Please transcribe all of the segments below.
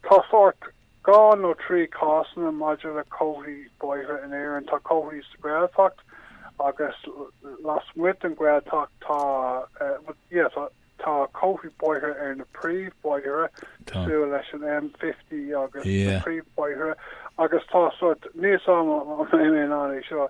Tá sórt dhá nó trí cásanna maidir le comharthaí bóithre in Éirinn. Tá comharthaí sa Ghaeltacht agus lasmuigh den Ghaeltacht. Tá, bhuel, tá comharthaí bóithre ar na príomhbhóithre, cosúil leis an M50 agus na príomhbhóithre, agus tá sórt, níl a fhios agam an mbaineann seo,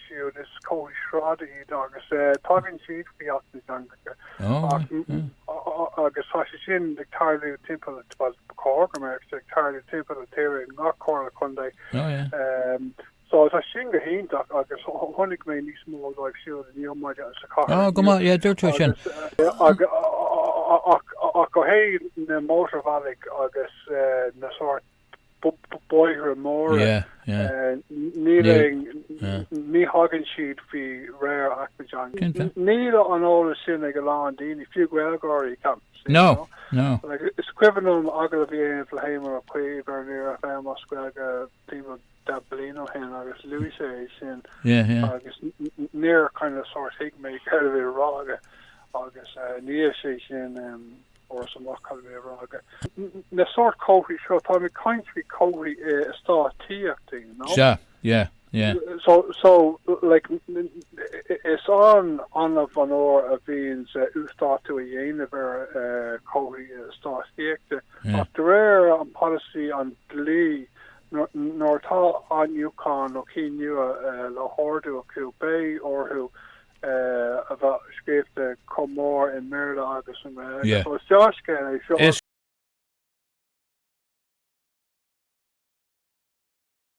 siúd is comharthaí sráide iad agus tagann siad faoi Acht na dTeangacha agus tá sé sin ag tarlú timpeall, bhuel ba chóir go mbeadh sé ag tarlú timpeall na tíre in ngach comhairle contae. So tá sin go hiontach agus chonaic mé níos mó díobh siúd inniu ar maidin sa chathair. Á go maith, yeah, dúirt tú sin. Ach ó thaobh na mótarbhealaigh agus na sórt bóithre móra. Níl aon. Ní thagann siad faoi réir Acht na dTeangacha. Níl an t-eolas sin ag a lán daoine, fiú Gaeilgeoirí, ceapaim. No, no. Is cuimhin liom agallamh a dhéanamh le hÉamon Ó Cuív ar Near FM as Gaeilge timpeall dhá bhliain ó shin agus luaigh sé é sin agus níor kind of sórt thuig mé céard a bhí le rá aige agus níl sé sin fós amach i ndáiríre a rá aige. Na sórt comharthaí seo, táim ag caint faoi chomharthaí eastát tithíochta, you know. Sea, yeah, yeah. So, so, like, is an-annamh a bhformhór a bhíonns uasdátú á dhéanamh ar chomharthaí eastát tithíochta ach de réir an pholasaí, an dlí, nuair atá athnuachan nó ceann nua le hordú acu, beidh orthu, a bheith scríofa chomh mór i mBéarla agus i nGaeilge. So is deá-scéal é seo.